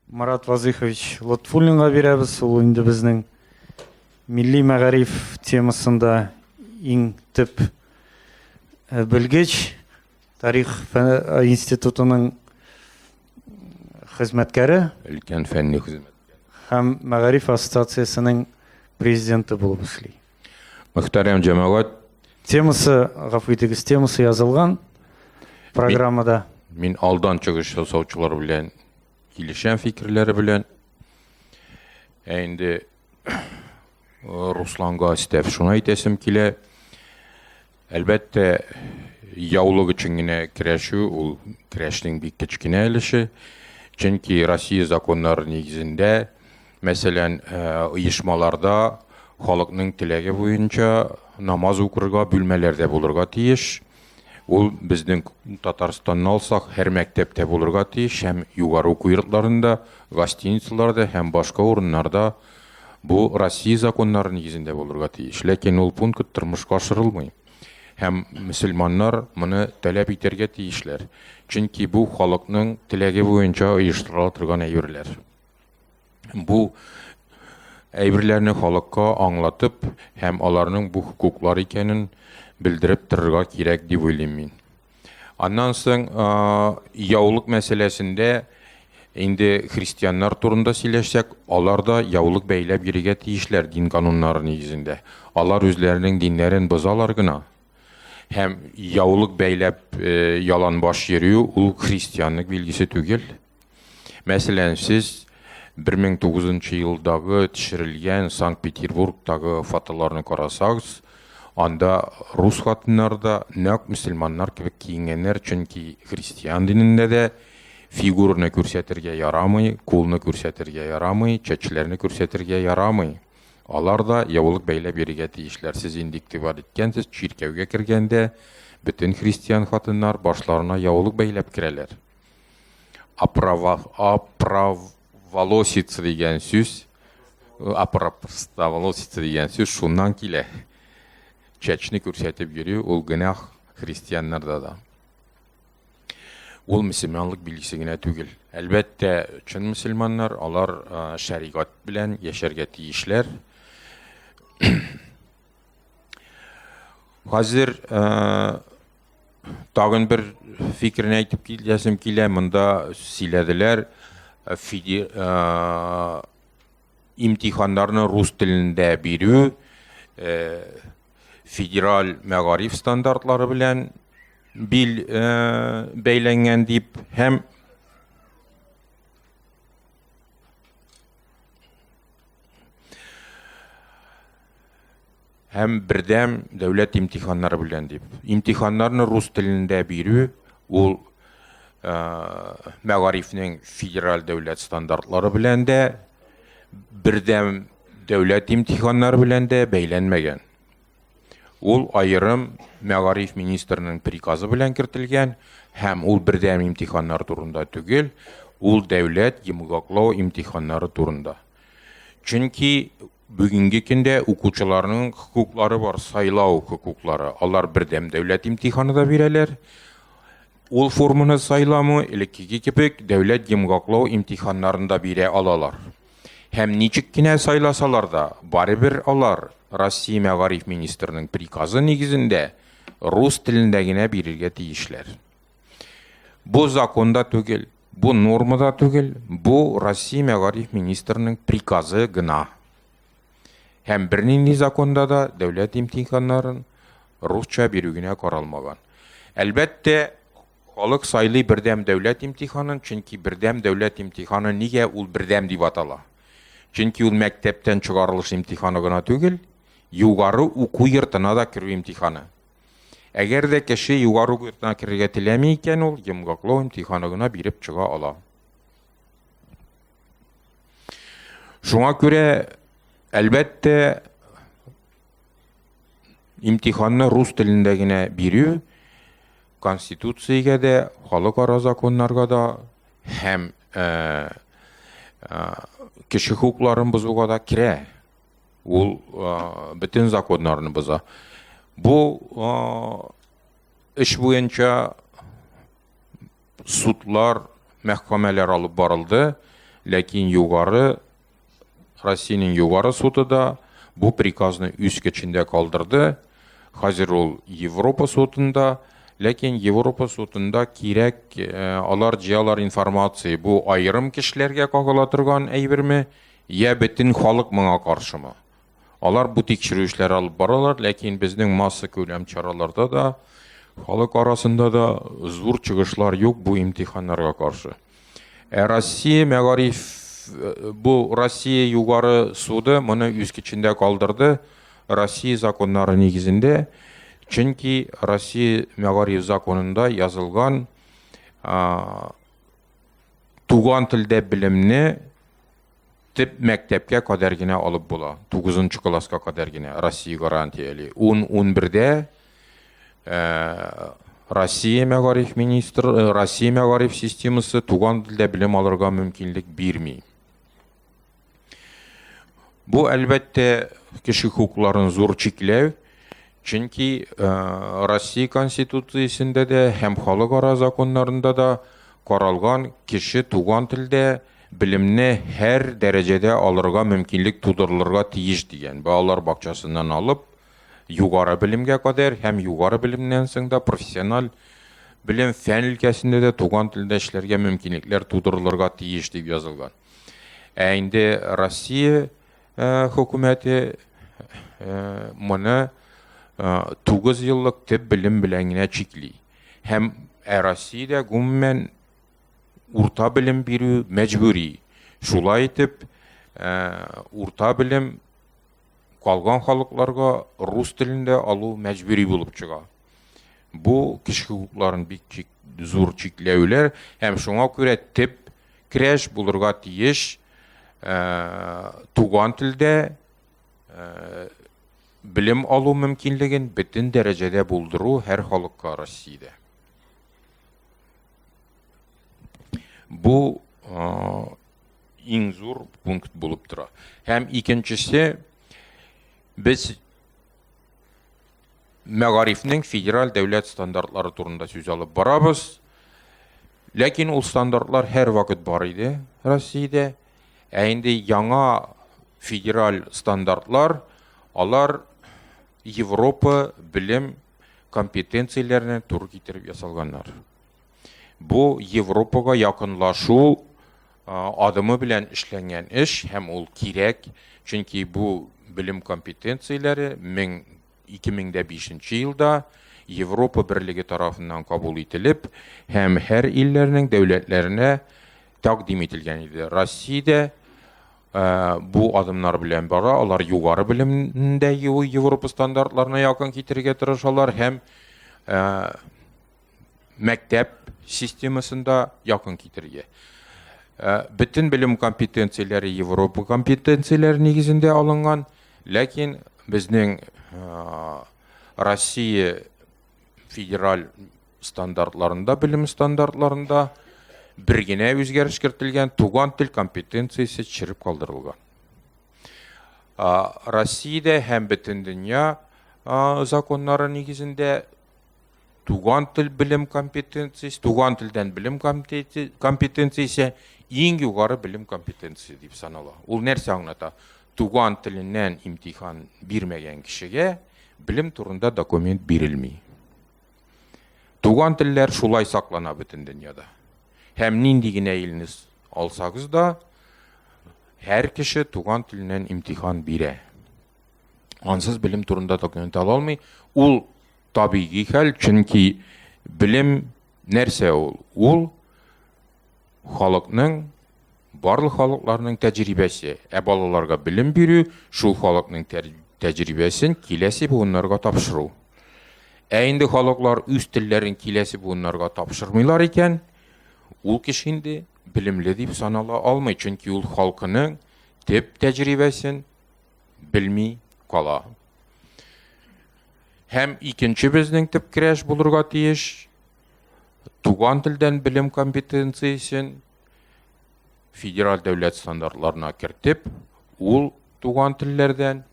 Марат Вазыйхович Лотфуллинга бирәбез. Ул инде безнең милли мәгариф темасында иң төп э, белгеч, тарих э, институтының хезмәткәре. Өлкән фәнни хезмәткәре. Һәм мәгариф ассоциациясенең президенты булып эшли. Мөхтәрәм җәмәгать. Темасы, гафу итегез, темасы язылган программада. Мин, мин алдан чыгыш ясаучылар белән килешәм фикерләре белән. Ә инде Русланга өстәп шуны әйтәсем килә. Әлбәттә, яулык өчен генә көрәшү ул көрәшнең бик кечкенә өлеше, чөнки Россия законнары нигезендә, мәсәлән, оешмаларда халыкның теләге буенча намаз укырга бүлмәләр дә булырга тиеш. Ул безнең Татарстанны алсак, һәр мәктәптә булырга тиеш һәм югары уку йортларында, гостиницаларда һәм башка урыннарда Бу Россия законнары нигезендә булырга тиеш, ләкин ул пункт тормышка ашырылмый. Һәм мөселманнар моны таләп итәргә тиешләр, чөнки бу халыкның теләге буенча оештырыла торган әйберләр. Бу әйберләрне халыкка аңлатып һәм аларның бу хокуклар икәнен белдереп торырга кирәк дип уйлыйм мин. Аннан соң яулык мәсьәләсендә инде христианнар турында сөйләшсәк, алар да яулык бәйләп йөрергә тиешләр дин кануннары нигезендә. Алар үзләренең диннәрен бозалар гына. Һәм яулык бәйләп э, яланбаш йөрү ул христианлык билгесе түгел. Мәсәлән, сез 1009 нчы елдагы төшерелгән Санкт-Петербургтагы фотоларны карасагыз, анда рус хатыннары да нәкъ мөселманнар кебек киенгәннәр, чөнки христиан динендә дә фигураны күрсәтергә ярамый, кулны күрсәтергә ярамый, чәчләрне күрсәтергә ярамый. Алар да яулык бәйләп йөрергә тиешләр. Сез инде игътибар иткәнсез, чиркәүгә кергәндә бөтен христиан хатыннар башларына яулык бәйләп керәләр. Апрова, апроволосица дигән сүз, апроволосица дигән сүз шуннан килә. Чәчне күрсәтеп йөри, ул генах христианнарда да. Ул мөселманлык билгесе генә түгел. Әлбәттә, чын мөселманнар, алар шәригат белән яшәргә тиешләр. Хәзер Тагын бер фикерне әйтеп киләсем килә. Монда сөйләделәр э, фиди, ә, имтиханнарны рус телендә бирү ә, федераль мәгариф стандартлары белән бил ә, бәйләнгән дип һәм һәм бердәм дәүләт имтиханнары белән дип. Имтиханнарны рус телендә бирү ул э, мәгарифнең федераль дәүләт стандартлары белән дә бердәм дәүләт имтиханнары белән дә бәйләнмәгән. Ул аерым мәгариф министрының приказы белән кертелгән һәм ул бердәм имтиханнар турында түгел, ул дәүләт йомгаклау имтиханнары турында. Чөнки Бүгенге көндә укучыларның хокуклары бар, сайлау хокуклары. Алар бердәм дәүләт имтиханы да бирәләр. Ул форманы сайламы, элеккеге кебек, дәүләт йомгаклау имтиханнарын да бирә алалар. Һәм ничек кенә сайласалар да, барыбер алар Россия мәгариф министрының приказы нигезендә рус телендә генә бирергә тиешләр. Бу законда түгел, бу нормада түгел, бу Россия мәгариф министрының приказы гына. Һәм бернинди законда да дәүләт имтиханнарын русча бирү генә каралмаган. Әлбәттә, халык сайлый бердәм дәүләт имтиханын, чөнки бердәм дәүләт имтиханы нигә ул бердәм дип атала? Чөнки ул мәктәптән чыгарылыш имтиханы гына түгел, югары уку йортына да керү имтиханы. Әгәр дә кеше югару йортына керергә теләми икән, ул йомгаклау имтиханы гына биреп чыга ала. Шуңа күрә, әлбәттә, имтиханны рус телендә генә бирү конституциягә дә, халыкара законнарга да һәм кеше хукукларын бозуга да керә. Ул бөтен законнарны боза. Бу эш буенча судлар, мәхкәмәләр алып барылды, ләкин югары Россиянең югары суды да бу приказны үз көчендә калдырды. Хәзер ул Европа судында, ләкин Европа судында кирәк, э, алар җыялар информация, бу аерым кешеләргә кагыла торган әйберме Йә бөтен халык моңа каршымы? Алар бу тикшерү эшләре алып баралар, ләкин безнең массакүләм чараларда да, халык арасында да зур чыгышлар юк бу имтиханнарга каршы. Ә Россия мәгариф бу Россия югары суды моны үз көчендә калдырды, Россия законнары нигезендә, чөнки Россия мәгариф законында язылган, Туган телдә белемне төп мәктәпкә кадәр генә алып була. 9 нчы класска кадәр генә Россия гарантияли. 10-11дә э, Россия мәгариф министр, э, Россия мәгариф системасы туган телдә белем алырга мөмкинлек бирми. Бу, әлбәттә, кеше хукукларын зур чикләү, чөнки э, Россия Конституциясендә дә һәм халыкара законнарында да каралган кеше туган телдә белемне һәр дәрәҗәдә алырга мөмкинлек тудырылырга тиеш дигән. Балалар бакчасыннан алып, югары белемгә кадәр һәм югары белемнән соң да профессиональ белем фән өлкәсендә дә туган телдә эшләргә мөмкинлекләр тудырылырга тиеш дип язылган. Ә инде Россия хөкүмәте моны 9 еллык төп белем белән генә чикли. Һәм ә Россиядә гомумән урта белем бирү мәҗбүри. Шулай итеп, урта белем Калган халыкларга рус телен дә алу мәҗбүри булып чыга. Бу кеше хокукларын бик чик, зур чикләүләр һәм шуңа күрә теп крәш булырга тиеш ә, туган телдә ә, белем алу мөмкинлеген бөтен дәрәҗәдә булдыру һәр халыкка Россиядә. Бу иң зур пункт булып тора. Һәм икенчесе без мәгарифнең федераль дәүләт стандартлары турында сүз алып барабыз. Ләкин ул стандартлар һәр вакыт бар иде Россиядә. Ә инде яңа федераль стандартлар, алар Европа белем компетенцияләренә туры китереп ясалганнар. Бу Европага якынлашу адымы белән эшләнгән эш һәм ул кирәк, чөнки бу белем компетенцияләре 2005 елда Европа берлеге тарафыннан кабул ителеп һәм һәр илләрнең дәүләтләренә тәкъдим ителгән иде. Россиядә бу адымнар белән бара, алар югары белемдә Европа стандартларына якын китерергә тырышалар һәм мәктәп системасында якын китерергә. Э, бөтен белем компетенцияләре Европа компетенцияләре нигезендә алынган, ләкин безнең э, Россия федераль стандартларында, белем стандартларында бер генә үзгәреш кертелгән, туган тел компетенциясе төшереп калдырылган. Россиядә һәм бөтен дөнья законнары нигезендә Туган тел белем компетенциясе, туган телдән белем компетенциясе иң югары белем компетенциясе дип санала. Ул нәрсә аңлата? Туган теленнән имтихан бирмәгән кешегә белем турында документ бирелми. Туган телләр шулай саклана бөтен дөньяда. Һәм нинди генә илне алсагыз да, һәр кеше туган теленнән имтихан бирә. ансыз белем турында документ ала алмый. Ул табигый хәл, чөнки белем нәрсә ул? Ул халыкның барлык халыкларның тәҗрибәсе. Ә балаларга белем бирү шул халыкның тәҗрибәсен киләсе буыннарга тапшыру. Ә инде халыклар үз телләрен киләсе буыннарга тапшырмыйлар икән, ул кеше инде белемле дип санала алмый, чөнки ул халкының төп тәҗрибәсен белми кала. Һәм икенче безнең төп керәш булырга тиеш туган телдән белем компетенциясен федераль дәүләт стандартларына кертеп, ул туган телләрдән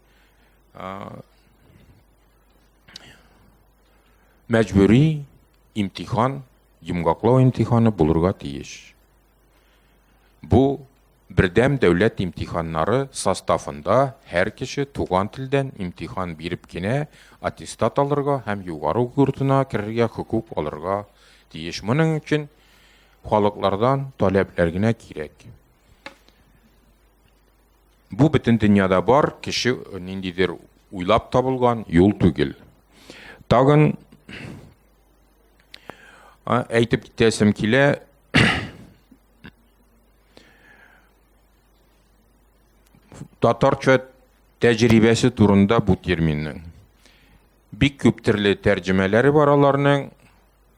мәҗбүри имтихан, йомгаклау имтиханы булырга тиеш. Бу Бердәм дәүләт имтиханнары составында һәр кеше туган телдән имтихан биреп кенә аттестат алырга һәм югары уку йортына керергә хокук алырга тиеш. Моның өчен халыклардан таләпләр генә кирәк. Бу бөтен дөньяда бар, кеше ниндидер уйлап табылган юл түгел. Тагын Әйтеп китәсем килә, татарча тәҗрибәсе турында бу терминның. Бик күп төрле тәрҗемәләре бар аларның.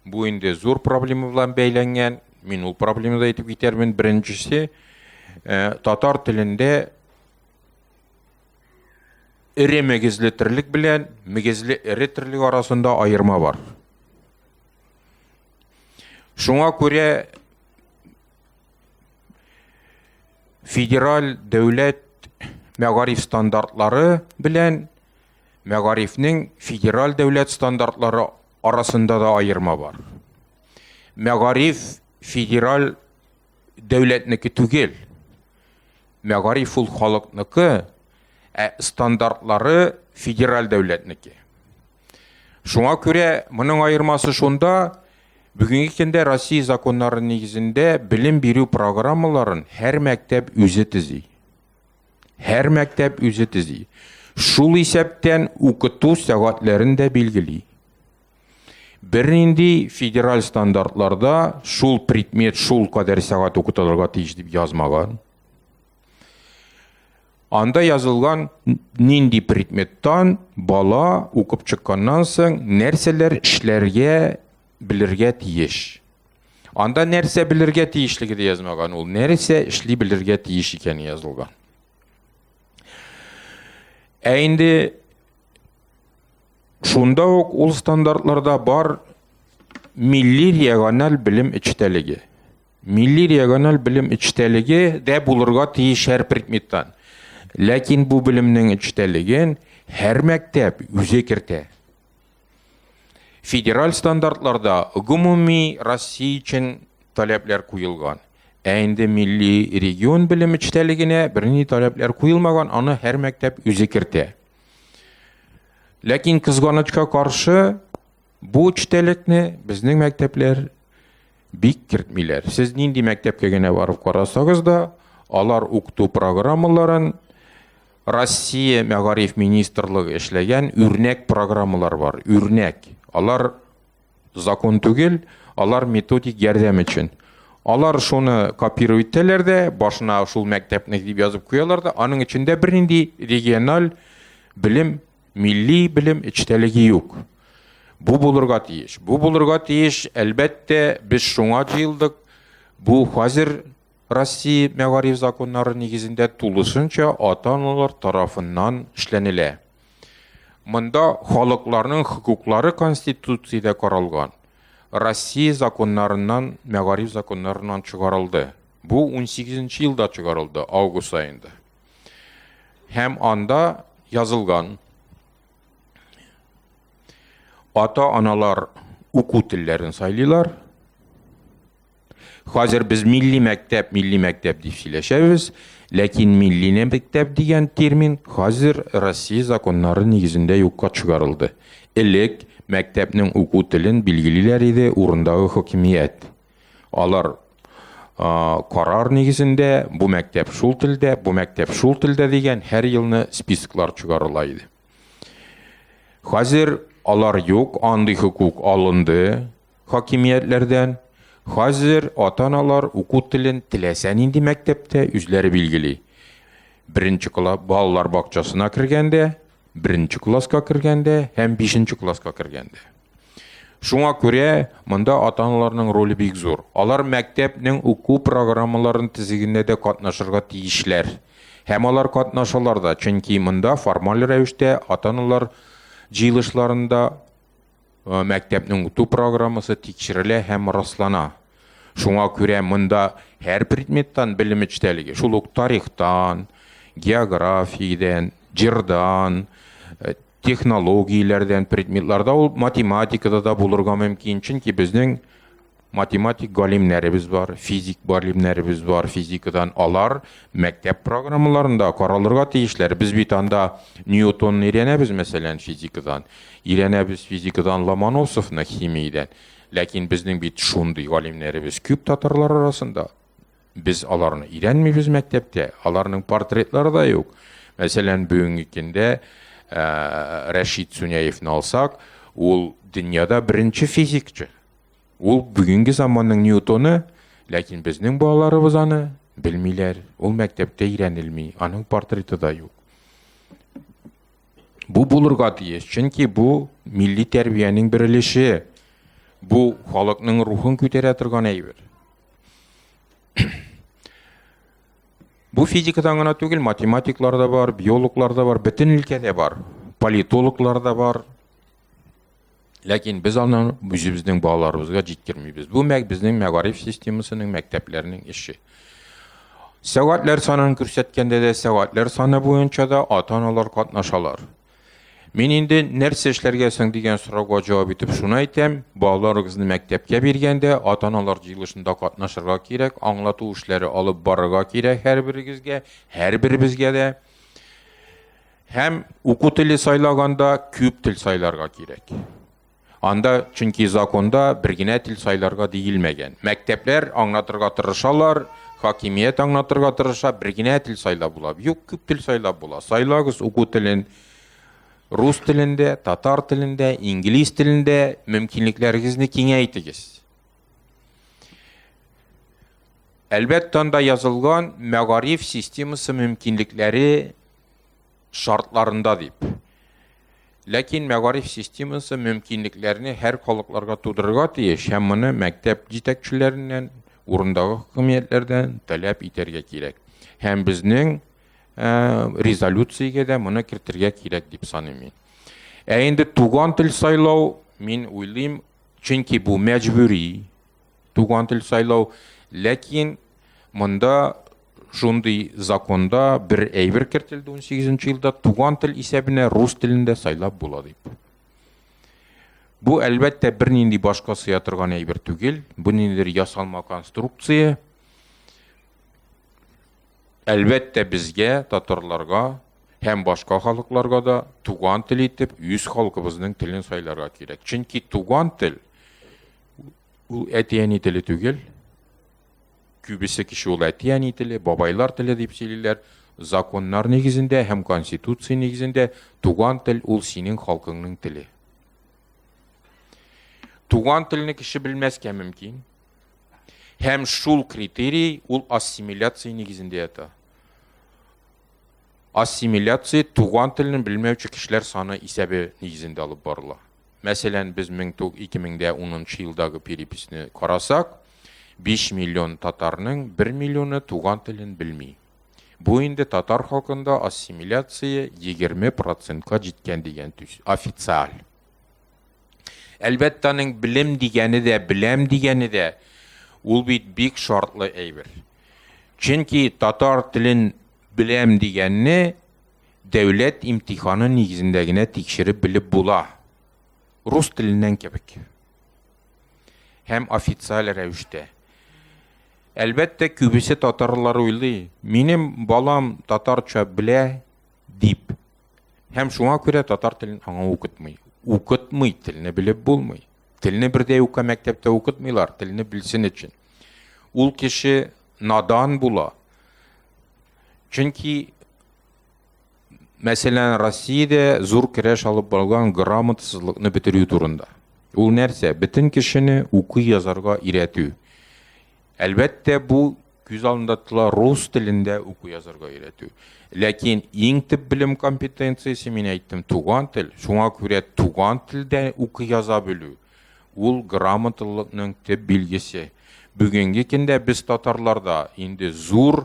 Бу инде зур проблема белән бәйләнгән. Мин ул проблемада әйтеп китәрмен. Беренчесе, э, татар телендә Эре мөгезле терлек белән мөгезле эре терлек арасында аерма бар. Шуңа күрә федераль дәүләт мәгариф стандартлары белән мәгарифнең федераль дәүләт стандартлары арасында да аерма бар. Мәгариф федераль дәүләтнеке түгел. Мәгариф ул халыкныкы, ә стандартлары федераль дәүләтнеке. Шуңа күрә моның аермасы шунда, бүгенге көндә Россия законнары нигезендә белем бирү программаларын һәр мәктәп үзе төзи. Һәр мәктәп үзе төзи. Шул исәптән укыту сәгатьләрен дә билгели. Бернинди федераль стандартларда шул предмет шул кадәр сәгать укытылырга тиеш дип язмаган. Анда язылган нинди предметтан бала укып чыкканнан соң нәрсәләр эшләргә белергә тиеш. Анда нәрсә белергә тиешлеге дә язмаган, ул нәрсә эшли белергә тиеш икәне язылган. Ә инде Шунда ук ул стандартларда бар милли региональ белем эчтәлеге. Милли региональ белем эчтәлеге дә булырга тиеш һәр предметтан. Ләкин бу белемнең эчтәлеген һәр мәктәп үзе кертә. Федераль стандартларда гомуми Россия өчен таләпләр куелган. Ә инде милли регион белем эчтәлегенә бернинди таләпләр куелмаган, аны һәр мәктәп үзе кертә. Ләкин кызганычка каршы бу эчтәлекне безнең мәктәпләр бик кертмиләр. Сез нинди мәктәпкә генә барып карасагыз да, алар укыту программаларын Россия мәгариф министрлыгы эшләгән үрнәк программалар бар. Үрнәк. Алар Закон түгел, алар методик ярдәм өчен. Алар шуны копирую итәләр дә, башына шул мәктәпне дип язып куялар да, аның эчендә бернинди региональ белем, милли белем эчтәлеге юк. Бу булырга тиеш. Бу булырга тиеш, әлбәттә, без шуңа җыелдык. Бу хәзер Россия мәгариф законнары нигезендә тулысынча ата-аналар тарафыннан эшләнелә. Монда халыкларның хокуклары Конституциядә каралган, Россия законнарыннан, мәгариф законнарыннан чыгарылды. Бу 18 нче елда чыгарылды, август аенда. Һәм анда язылган ата-аналар уку телләрен сайлыйлар, Хәзер без милли мәктәп, милли мәктәп дип сөйләшәбез, ләкин милли мәктәп дигән термин хәзер Россия законнары нигезендә юкка чыгарылды. Элек мәктәпнең уку телен билгелиләр иде урындагы хакимият. Алар карар нигезендә бу мәктәп шул телдә, бу мәктәп шул телдә дигән һәр елны списоклар чыгарыла иде. Хәзер алар юк, андый хокук алынды. хакимиятләрдән. Хәзер ата-аналар уку телен теләсә нинди мәктәптә үзләре билгели. Беренче класс балалар бакчасына кергәндә, беренче класска кергәндә һәм бишенче класска кергәндә. Шуңа күрә монда ата-аналарның роле бик зур. Алар мәктәпнең уку программаларын тизегендә дә катнашырга тиешләр. Һәм алар катнашалар да, чөнки монда формаль рәвештә ата-аналар җыелышларында Мәктәпнең укыту программасы тикшерелә һәм раслана. Шуңа күрә монда һәр предметтан белем эчтәлеге, шул ук тарихтан, географиядән, җырдан, технологияләрдән предметларда ул математикада да булырга мөмкин, чөнки безнең математик галимнәребез бар, физик галимнәребез бар, физикадан алар мәктәп программаларында каралырга тиешләр. Без бит анда Ньютонны өйрәнәбез, мәсәлән, физикадан. Өйрәнәбез физикадан Ломоносовны химиядән. Ләкин безнең бит шундый галимнәребез күп татарлар арасында. Без аларны өйрәнмибез мәктәптә, аларның портретлары да юк. Мәсәлән, бүгенге көндә ә, Рәшид Суняевны алсак, ул дөньяда беренче физикчы. Ул бүгенге заманның Ньютоны, ләкин безнең балаларыбыз аны белмиләр, ул мәктәптә өйрәнелми, аның портреты да юк. Бу булырга тиеш, чөнки бу милли тәрбиянең бер өлеше. Бу халыкның рухын күтәрә торган әйбер. Бу физикадан гына түгел, математиклар да бар, биологлар да бар, бөтен өлкәдә бар, политологлар да бар. Ләкин без аны үзебезнең балаларыбызга җиткермибез. Бу мәк безнең мәгариф системасының мәктәпләренең эше. Сәгатьләр санын күрсәткәндә дә сәгатьләр саны буенча да ата-аналар катнашалар. Мин инде нәрсә эшләргә соң дигән сорауга җавап итеп шуны әйтәм, балаларыгызны мәктәпкә биргәндә ата-аналар җыелышында катнашырга кирәк, аңлату эшләре алып барырга кирәк һәрберегезгә, һәрберебезгә дә. Һәм уку теле сайлаганда күп тел сайларга кирәк. Анда чөнки законда бер генә тел сайларга диелмәгән. Мәктәпләр аңлатырга тырышалар, хакимият аңлатырга тырыша, бер генә тел сайлап була. Юк, күп тел сайлап була. Сайлагыз уку телен рус телендә, татар телендә, инглиз телендә мөмкинлекләрегезне киңәйтегез. Әлбәттә, анда язылган мәгариф системасы мөмкинлекләре шартларында дип. Ләкин мәгариф системасы мөмкинлекләрне һәр халыкларга тудырырга тиеш һәм моны мәктәп җитәкчеләреннән, урындагы хакимиятләрдән таләп итәргә кирәк. Һәм безнең ә, резолюциягә дә моны кертергә кирәк дип саныйм мин. Ә инде туган тел сайлау, мин уйлыйм, чөнки бу мәҗбүри туган тел сайлау, ләкин монда Шундый законда бер әйбер кертелде 18 елда, туган тел исәбенә рус телендә сайлап була дип. Бу әлбәттә бернинди башка сыя торган әйбер түгел, бу ниндидер ясалма конструкция. Әлбәттә безгә, татарларга һәм башка халыкларга да туган тел итеп үз халкыбызның телен сайларга кирәк. Чөнки туган тел ул әти-әни теле түгел, Күбесе кеше ул әти-әни теле, бабайлар теле дип сөйлиләр. Законнар нигезендә һәм Конституция нигезендә туган тел ул синең халкыңның теле. Туган телне кеше белмәскә мөмкин. Һәм шул критерий ул ассимиляция нигезендә ята. Ассимиляция туган телне белмәүче кешеләр саны исәбе нигезендә алып барыла. Мәсәлән, без 2010 елдагы переписьне карасак, 5 миллион татарның 1 миллионы туган телен белми. Бу инде татар халкында ассимиляция 20 процентка җиткән дигән төс, официаль. Әлбәттә, аның белем дигәне дә, беләм дигәне дә, ул бит бик шартлы әйбер. Чөнки татар телен беләм дигәнне Дәүләт имтиханы нигезендә генә тикшереп белеп була, рус теленнән кебек һәм официаль рәвештә. Әлбәттә, күбесе татарлар уйлый, минем балам татарча белә дип. Һәм шуңа күрә татар телен аңа укытмый. Укытмый, телне белеп булмый. Телне бердә юкка мәктәптә укытмыйлар, телне белсен өчен. Ул кеше надан була. Чөнки Мәсәлән, Россиядә зур керәш алып барылган грамотасызлыкны бетерү турында. Ул нәрсә? Бөтен кешене укый-язарга өйрәтү. Әлбәттә, бу күз алдында тотыла рус телендә уку-язарга өйрәтү. Ләкин иң төп белем компетенциясе, мин әйттем, туган тел. Шуңа күрә туган телдә укый-яза белү ул грамоталылыкның төп билгесе. Бүгенге көндә без татарларда инде зур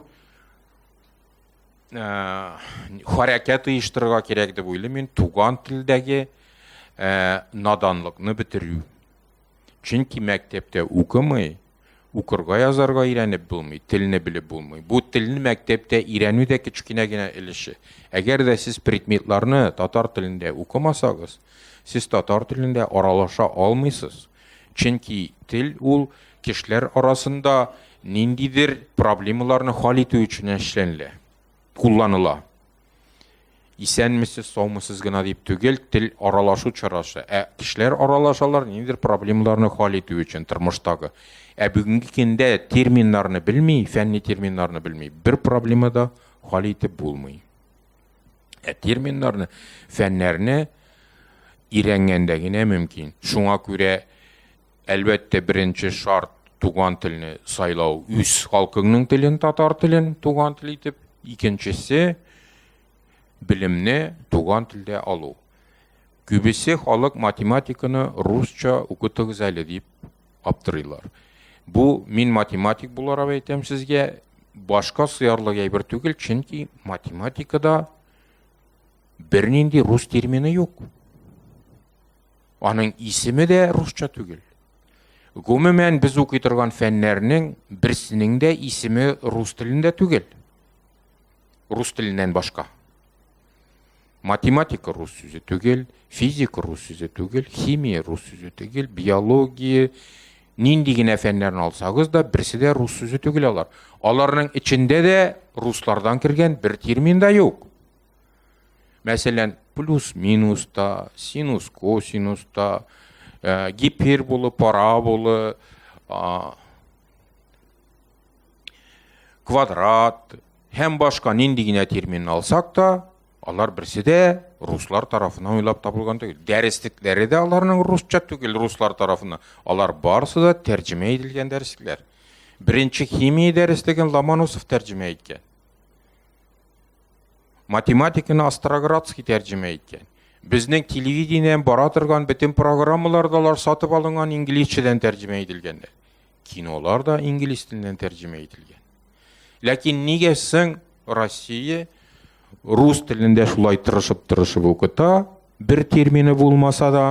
хәрәкәт оештырырга кирәк дип уйлыйм мин туган телдәге наданлыкны бетерү чөнки мәктәптә укымый укырга язарга өйрәнеп булмый телне белеп булмый бу телне мәктәптә өйрәнү дә кечкенә генә өлеше әгәр дә сез предметларны татар телендә укымасагыз сез татар телендә аралаша алмыйсыз чөнки тел ул Кешеләр арасында ниндидер проблемаларны хал итү өчен эшләнелә, кулланыла. Исәнмесез, саумысыз гына дип түгел, тел аралашу чарасы. Ә кешеләр аралашалар ниндидер проблемаларны хал итү өчен тормыштагы. Ә бүгенге көндә терминнарны белми, фәнни терминнарны белми, бер проблема да хал итеп булмый. Ә терминнарны, фәннәрне өйрәнгәндә генә мөмкин. Шуңа күрә Әлбәттә, беренче шарт туган телне сайлау, үз халкыңның телен, татар телен туган тел итеп, икенчесе белемне туган телдә алу. Күбесе халык математиканы русча укытыгыз әле дип аптырыйлар. Бу мин математик буларак әйтәм сезгә, башка сыярлык әйбер түгел, чөнки математикада бернинди рус термины юк. Аның исеме дә русча түгел. Гомумән, без укый торган фәннәрнең берсенең дә исеме рус телендә түгел. Рус теленнән башка. Математика рус сүзе түгел, физика рус сүзе түгел, химия рус сүзе түгел, биология, нинди генә фәннәрне алсагыз да, берсе дә рус сүзе түгел алар. Аларның эчендә дә руслардан кергән бер термин да юк. Мәсәлән, плюс-минуста, синус-косинуста, э, гиперболы, параболы, квадрат һәм башка нинди генә термин алсак та, алар берсе дә руслар тарафына уйлап табылган түгел. Дәреслекләре дә аларның русча түгел, руслар тарафына. Алар барысы да тәрҗемә ителгән дәреслекләр. Беренче химия дәреслеген Ломоносов тәрҗемә иткән. Математиканы Остроградский тәрҗемә иткән. Безнең телевидениедән бара торган бөтен программалар да алар сатып алынган инглизчәдән тәрҗемә ителгәннәр. Кинолар да инглиз теленнән тәрҗемә ителгән. Ләкин нигә соң Россия рус телендә шулай тырышып-тырышып укыта, бер термины булмаса да,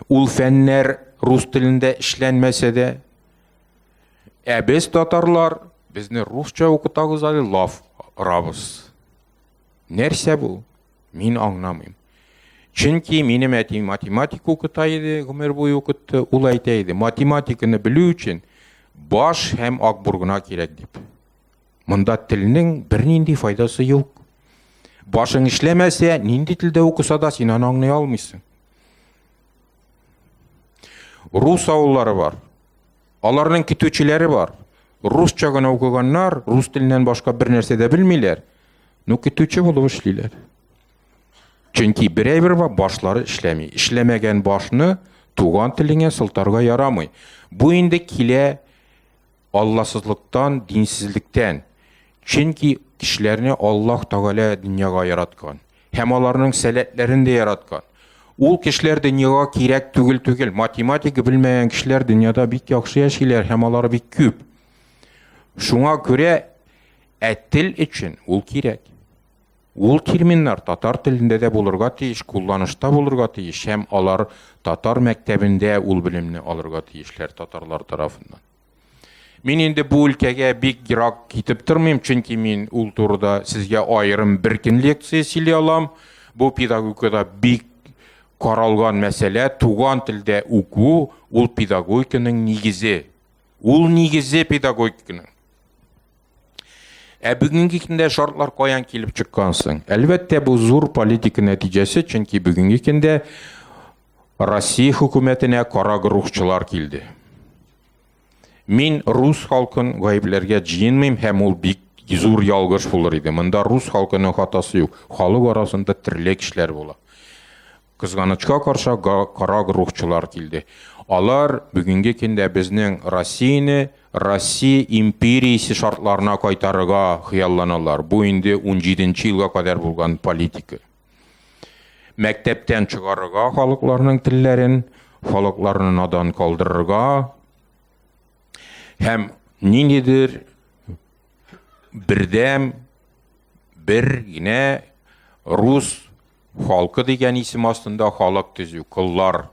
ул фәннәр рус телендә эшләнмәсә дә, Ә без татарлар, безне русча укытагыз әле лаф рабыз. Нәрсә бу? Мин аңламыйм. Чөнки минем әти математика укыта иде, гомер буе укытты. Ул әйтә иде, математиканы белү өчен баш һәм акбур гына кирәк дип. Монда телнең бернинди файдасы юк. Башың эшләмәсә, нинди телдә укыса да син аны аңлый алмыйсың. Рус авыллары бар. Аларның көтүчеләре бар. Русча гына укыганнар, рус теленнән башка бер нәрсә дә белмиләр, но көтүче булып эшлиләр. Чөнки берәйбер башлары эшләми. Эшләмәгән башны туган телеңә сылтарга ярамый. Бу инде килә алласызлыктан, динсезлектән. Чөнки кешеләрне Аллаһ Тәгалә дөньяга яраткан. һәм аларның сәләтләрен дә яраткан. Ул кешеләр дөньяга кирәк түгел түгел. Математика белмәгән кешеләр дөньяда бик яхшы яшиләр һәм алар бик күп. Шуңа күрә ә тел өчен ул кирәк. Ул терминнар татар телендә дә булырга тиеш, кулланышта булырга тиеш һәм алар татар мәктәбендә ул белемне алырга тиешләр татарлар тарафыннан. Мин инде бу өлкәгә бик ерак китеп тормыйм, чөнки мин ул турыда сезгә аерым бер көн лекция сөйли алам. Бу педагогикада бик каралган мәсьәлә, туган телдә уку, ул педагогиканың нигезе. Ул нигезе педагогиканың. Ә бүгенге көндә шартлар каян килеп чыккансың? Әлбәттә, бу зур политика нәтиҗәсе, чөнки бүгенге көндә Россия хөкүмәтенә карагрухчылар килде. Мин рус халкын гаепләргә җыенмыйм һәм ул бик зур ялгыш булыр иде. Монда рус халкының хатасы юк. Халык арасында төрле кешеләр була. Кызганычка каршы карагрухчылар килде. Алар бүгенге көндә безнең Россияне Россия империясе шартларына кайтарырга хыялланалар. Бу инде 17 нче елга кадәр булган политика. Мәктәптән чыгарырга халыкларның телләрен, халыкларны надан калдырырга һәм ниндидер бердәм бер генә рус халкы дигән исем астында халык төзү, коллар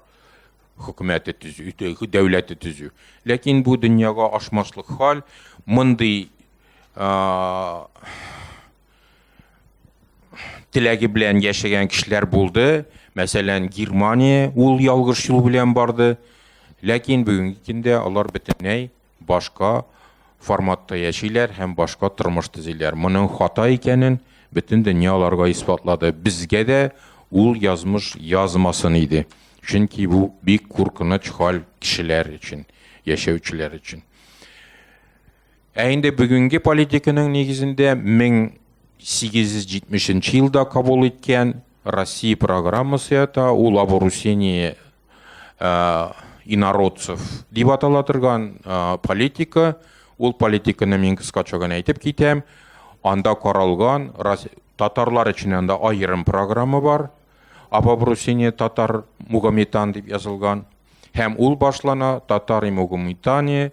хөкүмәте төзү, дәүләте төзү. Ләкин бу дөньяга ашмаслык хал, мондый теләге белән яшәгән кешеләр булды. Мәсәлән, Германия ул ялгыш юл белән барды. Ләкин бүгенге көндә алар бөтенләй башка форматта яшиләр һәм башка тормыш төзиләр. Моның хата икәнен бөтен дөнья аларга исбатлады. Безгә дә ул язмыш язмасын иде. Чөнки бу бик куркыныч хәл кешеләр өчен, яшәүчеләр өчен. Ә инде бүгенге политиканың нигезендә 1870 елда кабул иткән Россия программасы ята, ул обрусение инородцев дип атала торган политика, ул политиканы мин кыскача гына әйтеп китәм, анда каралган татарлар өчен анда аерым программа бар, об обрусение татар мугаметан дип язылган, һәм ул башлана татар и мугаметане,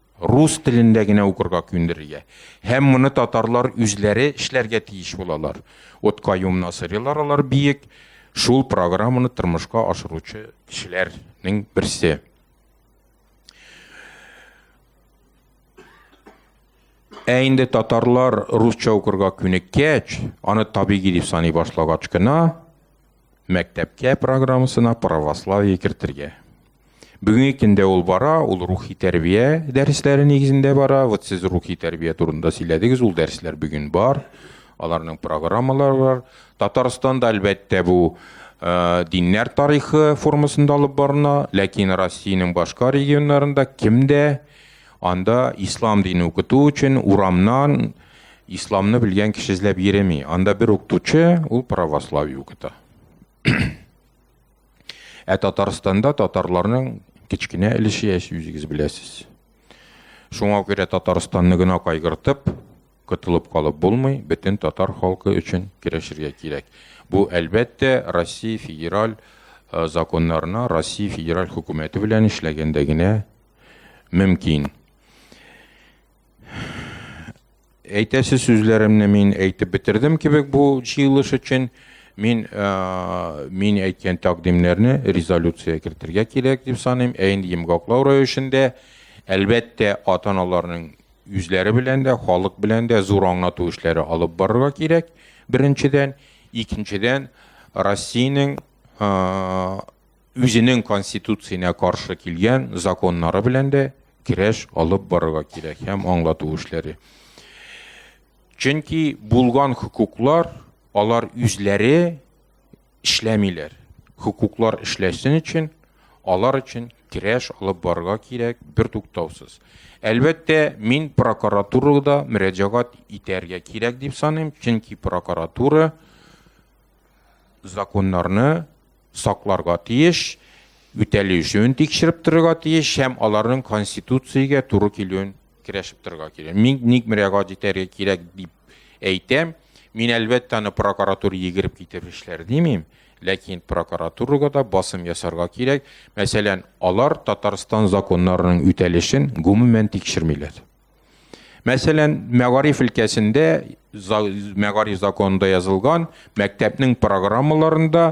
рус телендә генә укырга күндерергә. Һәм моны татарлар үзләре эшләргә тиеш булалар. Вот Каюм Насырилар алар биек шул программаны тормышка ашыручы кешеләрнең берсе. Ә инде татарлар русча укырга күнеккәч, аны табигый дип саный башлагач кына, Мәктәпкә программасына православие кертергә. Бүгенге көндә ул бара, ул рухи тәрбия дәресләре нигезендә бара. Вот сез рухи тәрбия турында сөйләдегез, ул дәресләр бүген бар. Аларның программалары бар. Татарстанда әлбәттә бу Э, диннәр тарихы формасында алып барына, ләкин Россиянең башка регионнарында кемдә Анда ислам дине укыту өчен урамнан исламны белгән кеше эзләп йөреми. Анда бер укытучы, ул православие укыта. Ә Татарстанда татарларның кечкенә өлеше яши, үзегез беләсез. Шуңа күрә Татарстанны гына кайгыртып, котылып калып булмый, бөтен татар халкы өчен керәшергә кирәк. Бу әлбәттә Россия федераль э, законнарына, Россия федераль хөкүмәте белән эшләгәндә генә мөмкин. Әйтәсе сүзләремне мин әйтеп бетердем кебек бу җыелыш өчен. Мин э, мин әйткән тәкъдимнәрне резолюция кертергә кирәк дип саныйм. Ә инде йомгаклау рәвешендә әлбәттә ата-аналарның үзләре белән дә, халык белән дә зур аңлату эшләре алып барырга кирәк. Беренчедән, икенчедән, Россиянең э, үзенең конституцияне каршы килгән законнары белән дә керәш алып барырга кирәк һәм аңлату эшләре. Чөнки булган хукуклар алар үзләре эшләмиләр. Хукуклар эшләсен өчен алар өчен керәш алып барырга кирәк бер туктаусыз. Әлбәттә, мин прокуратурада мөрәҗәгать итәргә кирәк дип саныйм, чөнки прокуратура законнарны сакларга тиеш, үтәлешүен тикшереп торырга тиеш һәм аларның конституциягә туры килүен керәшеп торырга кирәк. Мин ник мөрәгать итәргә кирәк дип әйтәм. Мин әлбәттә аны прокуратура егереп китеп эшләр димим, ләкин прокуратурага да басым ясарга кирәк. Мәсәлән, алар Татарстан законнарының үтәлешен гомумән тикшермиләр. Мәсәлән, мәгариф өлкәсендә мәгариф законында язылган мәктәпнең программаларында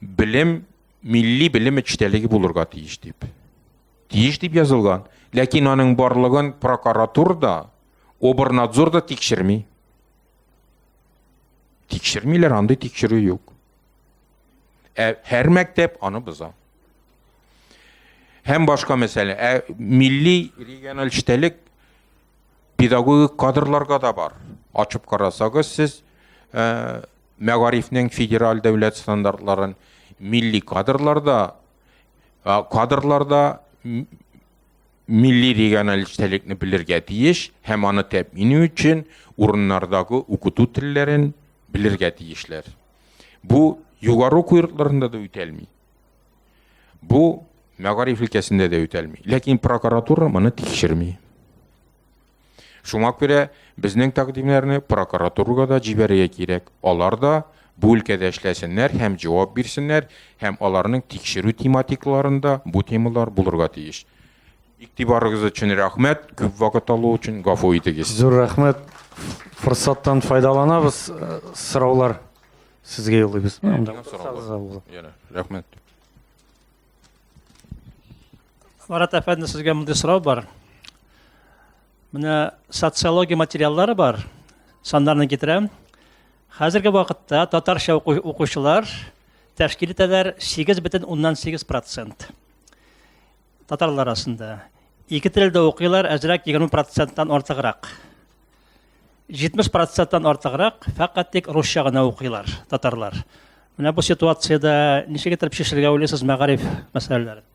белем милли белем эчтәлеге булырга тиеш дип. Тиеш дип язылган. Ләкин аның барлыгын прокуратура да, обернадзор да тикшерми. Тикшермиләр, андый тикшерү юк. Ә һәр мәктәп аны боза. Һәм башка мәсьәлә. Ә милли региональ эчтәлек педагогик кадрларга да бар. Ачып карасагыз сез ә, мәгарифнең федераль дәүләт стандартларын милли кадрларда ә, кадрларда милли региональ эчтәлекне белергә тиеш һәм аны тәэмин өчен урыннардагы укыту телләрен белергә тиешләр. Бу югары уку йортларында да үтәлми. Бу мәгариф өлкәсендә дә үтәлми. Ләкин прокуратура моны тикшерми. Шуңа күрә безнең тәкъдимнәрне прокуратурага да җибәрергә кирәк. Алар да бу өлкәдә эшләсеннәр һәм җавап бирсеннәр, һәм аларның тикшерү тематикаларында бу темалар булырга тиеш. Иктибарыгыз өчен рәхмәт, күп вакыт алу өчен гафу итегез. Зур рәхмәт. Форсаттан файдаланабыз, сораулар. Сезгә юллыйбыз. Анда утырсагыз Яна, рәхмәт. Марат әфәнде, сезгә мондый сорау бар. Менә социология материаллары бар. Саннарны китерәм. Хәзерге вакытта татарча укучылар тәшкил итәләр 8,8%. Татарлар арасында. Ике телдә укыйлар, әзрәк 20%-тан артыграк. 70%-тан артыграк фәкать тик русча гына укыйлар татарлар. Менә бу ситуациядә ничек итеп чишергә уйлыйсыз мәгариф мәсьәләләрен?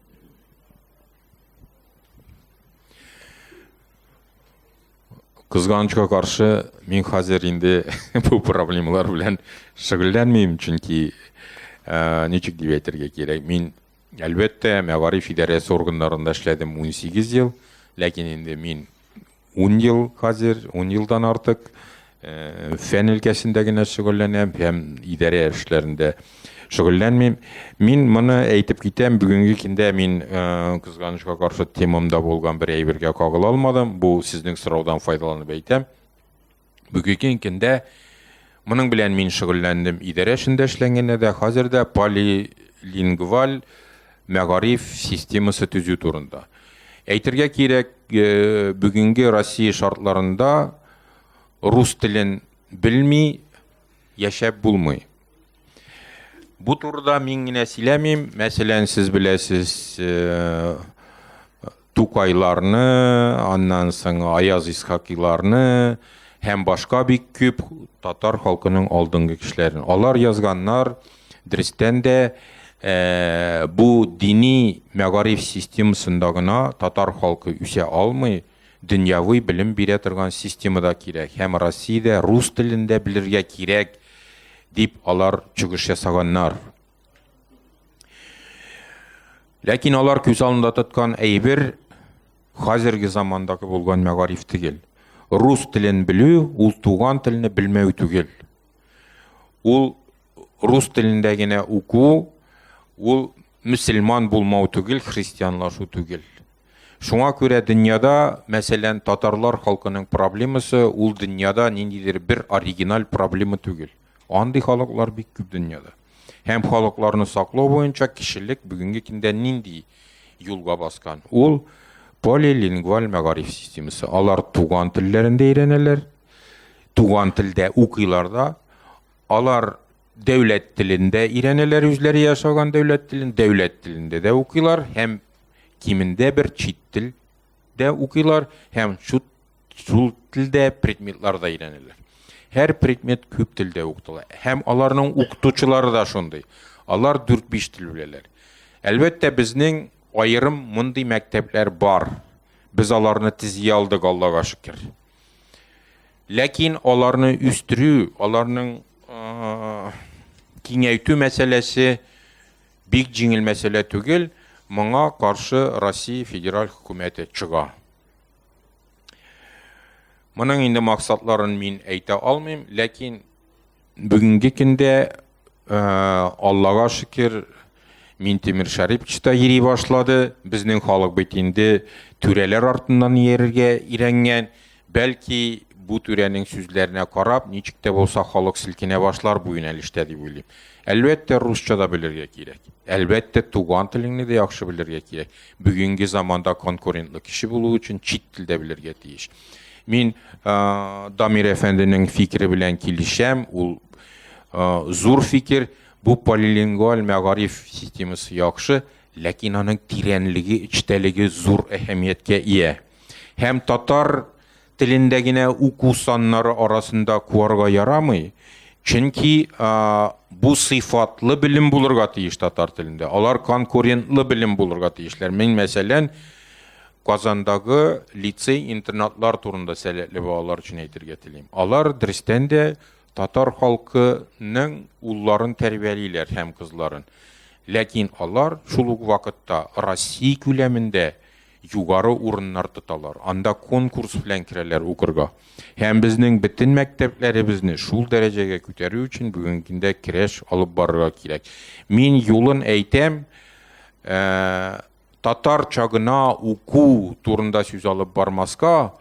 Кызганычка каршы, мин хәзер инде бу проблемалар белән шөгыльләнмим, чөнки ничек дип әйтергә кирәк, мин Әлбәттә, мәгариф идарәсе органнарында эшләдем унсигез ел, ләкин инде мин ун ел хәзер, ун елдан артык э, фән өлкәсендә генә шөгыльләнәм һәм идарә эшләрендә шөгыльләнмим. Мин моны әйтеп китәм, бүгенге көндә мин э, кызганычка каршы темамда булган бер әйбергә кагыла алмадым. Бу сезнең сораудан файдаланып әйтәм. Бүгенге көндә моның белән мин шөгыльләндем. Идарә эшендә эшләнгәндә дә, хәзер дә полилингваль мәгариф системасы төзү турында. Әйтергә кирәк, э, бүгенге Россия шартларында рус телен белми яшәп булмый. Бу турыда мин генә сөйләмим, мәсәлән, сез беләсез, э, Тукайларны, аннан соң Аяз Исхакиларны һәм башка бик күп татар халкының алдынгы кешеләрен. Алар язганнар дөрестән дә э, бу дини мәгариф системасында гына татар халкы үсә алмый, дөньяви белем бирә торган система да кирәк һәм Россиядә рус телендә белергә кирәк дип алар чыгыш ясаганнар. Ләкин алар күз алында тоткан әйбер хәзерге замандагы булган мәгариф түгел. Рус телен белү, ул туган телне белмәү түгел. Ул рус телендә генә уку, ул мөселман булмау түгел, христианлашу түгел. Шуңа күрә дөньяда, мәсәлән, татарлар халкының проблемасы ул дөньяда ниндидер бер оригиналь проблема түгел. Андый халыклар бик күп дөньяда. Һәм халыкларны саклау буенча кешелек бүгенге көндә нинди юлга баскан? Ул полилингваль мәгариф системасы. Алар туган телләрендә өйрәнәләр, туган телдә укыйлар да, алар дәүләт телендә өйрәнәләр, үзләре ясаган дәүләт телен, дәүләт телендә дә укыйлар һәм кимендә бер чит тел дә укыйлар һәм чут Шул телдә предметлар да өйрәнелә. Һәр предмет күп телдә укытыла. Һәм аларның укытучылары да шундый. Алар 4-5 тел беләләр. Әлбәттә, безнең аерым мондый мәктәпләр бар. Без аларны тизи алдык, Аллага шөкер. Ләкин аларны үстерү, аларның киңәйтү мәсьәләсе бик җиңел мәсьәлә түгел. Моңа каршы Россия федераль хөкүмәте чыга. Моның инде максатларын мин әйтә алмыйм, ләкин бүгенге көндә э, Аллага шөкер мин Тимир Шарипович та йөри башлады. Безнең халык бит инде түрәләр артыннан иярергә өйрәнгән. Бәлки бу түрәнең сүзләренә карап, ничек тә булса халык селкенә башлар бу юнәлештә дип уйлыйм. Әлбәттә, русча да белергә кирәк. Әлбәттә, туган телеңне дә яхшы белергә кирәк. Бүгенге заманда конкурентлы кеше булу өчен чит тел дә белергә тиеш. Мин ә, Дамир әфәнденең фикере белән килешәм. Ул ә, зур фикер. Бу полилингваль мәгариф системасы яхшы, ләкин аның тирәнлеге, эчтәлеге зур әһәмияткә ия. Һәм татар телендә генә уку саннары арасында куарга ярамый, чөнки бу сыйфатлы белем булырга тиеш татар телендә. Алар конкурентлы белем булырга тиешләр. Мин, мәсәлән, Казандагы лицей-интернатлар турында сәләтле балалар өчен әйтергә телим. Алар дөрестән дә татар халкының улларын тәрбиялиләр һәм кызларын. Ләкин алар шул ук вакытта Россия күләмендә югары урыннар тоталар, анда конкурс белән керәләр укырга. Һәм безнең бөтен мәктәпләребезне шул дәрәҗәгә күтәрү өчен бүгенге көндә керәш алып барырга кирәк. Мин юлын әйтәм, ә, татарча гына уку турында сүз алып бармаска,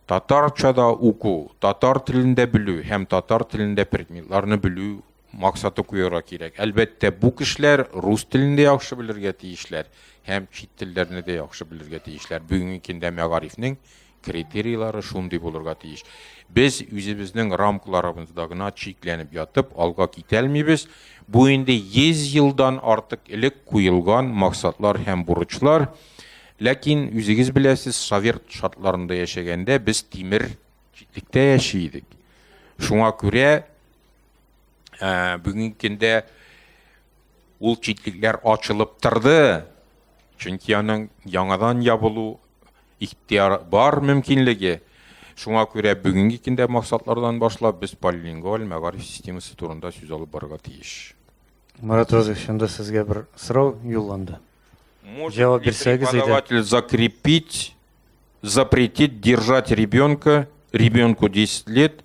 татарча да уку, татар телендә белү һәм татар телендә предметларны белү максаты куярга кирәк. Әлбәттә, бу кешеләр рус телен дә яхшы белергә тиешләр һәм чит телләрне дә яхшы белергә тиешләр. Бүгенге көндә мәгарифнең критерийлары шундый булырга тиеш. Без үзебезнең рамкаларыбызда гына чикләнеп ятып, алга китәлмибез. Бу инде 100 елдан артык элек куелган максатлар һәм бурычлар. Ләкин үзегез беләсез, совет шартларында яшәгәндә без тимер читлектә яши идек. Шуңа күрә ә, бүгенге көндә ул читлекләр ачылып торды чөнки аның яңадан ябылу ихтияр бар мөмкинлеге шуңа күрә бүгенге көндә максатлардан башлап без полилингваль мәгариф системасы турында сүз алып барырга тиеш марат розович анда сезгә бер сорау юлланды җавап бирсәгез иде закрепить запретить держать ребенка ребенку 10 лет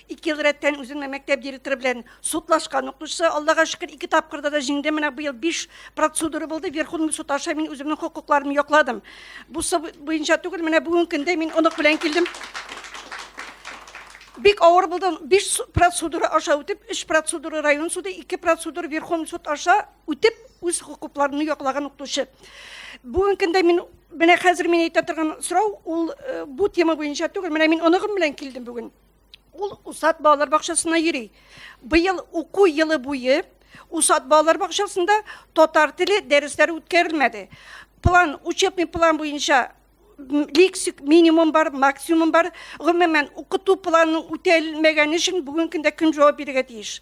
Ике ел рәттән үземнең мәктәп директоры белән судлашкан укучысы, Аллага шөкер, ике тапкырда да җиңде. Менә быел биш процедура булды. Верховный суд аша мин үземнең хокукларымны якладым. Бу буенча түгел, менә бүгенге көндә мин онык белән килдем. Бик авыр булды. Биш процедура аша үтеп, өч процедура район суды, ике процедура Верховный суд аша үтеп, үз хокукларымны яклаган укучы. Бүгенге көндә мин менә хәзер мин әйтә торган сорау, ул э, бу тема буенча түгел. Менә мин оныгым белән килдем бүген. Ул Усад балалар бакчасына йөри. Быел уку елы буе Усад балалар бакчасында татар теле дәресләре үткәрелмәде. План, учебный план буенча лексик минимум бар, максимум бар. Гомумән, укыту планының үтәлмәгәне өчен бүгенге көндә кем җавап бирергә тиеш?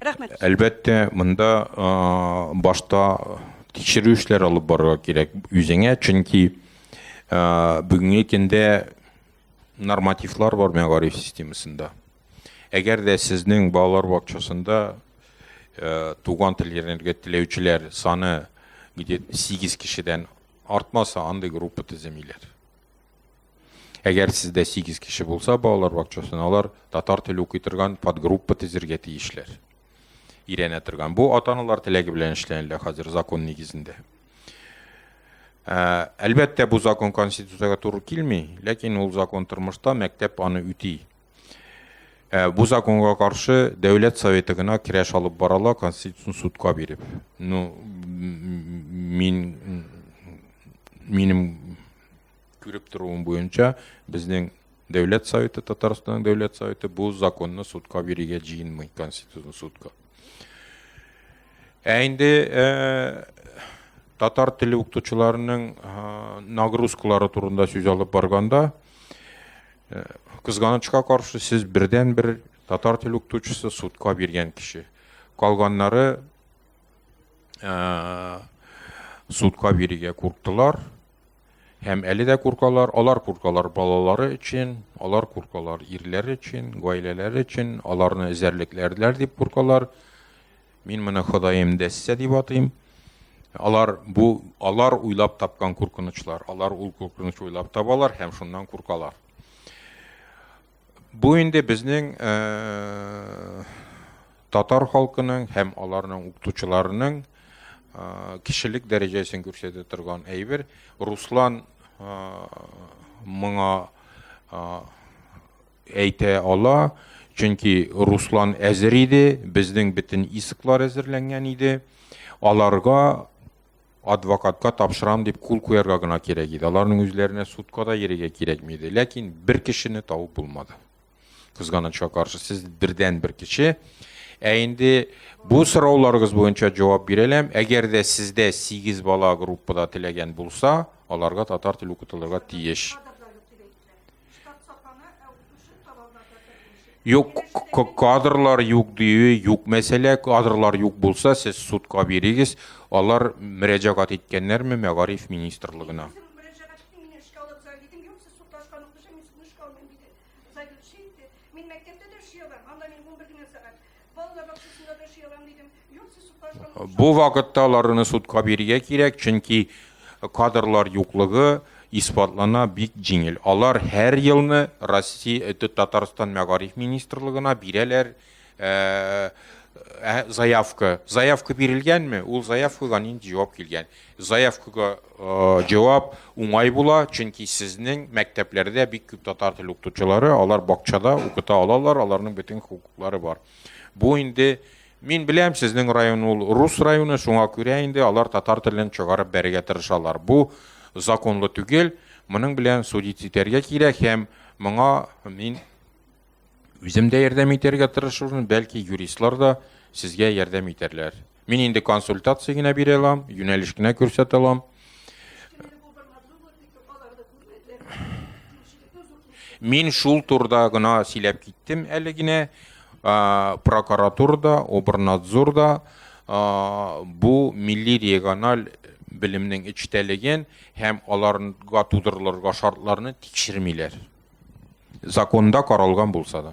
Рәхмәт. Әлбәттә, монда башта тикшерү эшләр алып барырга кирәк үзеңә, чөнки бүгенге көндә нормативлар бар мәгариф системасында. Әгәр дә сезнең балалар бакчасында туган тел өйрәнергә теләүчеләр саны где-то 8 кешедән артмаса, андый группа төземиләр. Әгәр сездә 8 кеше булса, балалар бакчасын алар татар теле укый торган подгруппа төзергә тиешләр. Ирәнә торган. Бу ата-аналар теләге белән эшләнелә хәзер закон нигезендә. Ә, әлбәттә, бу закон конституциягә туры килми, ләкин ул закон тормышта мәктәп аны үти. Ә бу законга каршы дәүләт советы гына керәш алып барала конституцион судка биреп. Ну мин минем күреп торуым буенча безнең дәүләт советы Татарстанның дәүләт советы бу законны судка бирергә җыенмый конституцион судка. Ә инде э, татар теле укытучыларының э, нагрузкалары турында сүз алып барганда Э, кызганычка каршы сез бердән бер татар тел укытучысы судка биргән кеше калганнары э, судка бирергә курктылар һәм әле дә куркалар алар куркалар балалары өчен алар куркалар ирләре өчен гаиләләре өчен аларны эзәрлекләрләр дип куркалар Мин моны Ходаем дәссә дип атыйм. Алар бу алар уйлап тапкан куркынычлар. Алар ул куркыныч уйлап табалар һәм шуннан куркалар. Бу инде безнең э, татар халкының һәм аларның укытучыларының э, кешелек дәрәҗәсен күрсәтә торган әйбер. Руслан э, моңа Әйтә ала, чөнки Руслан әзер иде, безнең бөтен исклар әзерләнгән иде. Аларга адвокатка тапшырам дип кул куярга гына кирәк иде. Аларның үзләренә судка да йөрергә кирәкми иде. Ләкин бер кешене табып булмады. Кызганычка каршы, сез бердән бер кеше. Ә инде бу сорауларыгыз буенча җавап бирәләм. Әгәр дә сездә 8 бала группада теләгән булса, аларга татар теле укытылырга тиеш. Юк, кадрлар юк дию, юк мәсьәлә, кадрлар юк булса, сез судка бирегез, алар мөрәҗәгать иткәннәрме мәгариф министрлыгына? Бу вакытта аларны судка бирергә кирәк, чөнки кадрлар юклыгы исбатлана бик җиңел. Алар һәр елны Россия э, Татарстан мәгариф министрлыгына бирәләр э, э, заявка. Заявка бирелгәнме, ул заявкага нинди җавап килгән. Заявкага җавап уңай була, чөнки сезнең мәктәпләрдә бик күп татар теле укытучылары, алар бакчада укыта алалар, аларның бөтен хокуклары бар. Бу инде Мин беләм, сезнең район ул рус районы, шуңа күрә инде алар татар телен чыгарып бәрергә тырышалар. Бу законлы түгел, моның белән судить итәргә кирәк һәм моңа мин үзем дә ярдәм итәргә тырышырмын, бәлки юристлар да сезгә ярдәм итәрләр. Мин инде консультация генә бирә алам, юнәлеш кенә күрсәтә алам. Мин шул турда гына сөйләп киттем әле генә. Прокуратурада, обернадзорда бу милли региональ белемнең эчтәлеген һәм аларга тудырылырга шартларны тикшермиләр. Законда каралган булса да.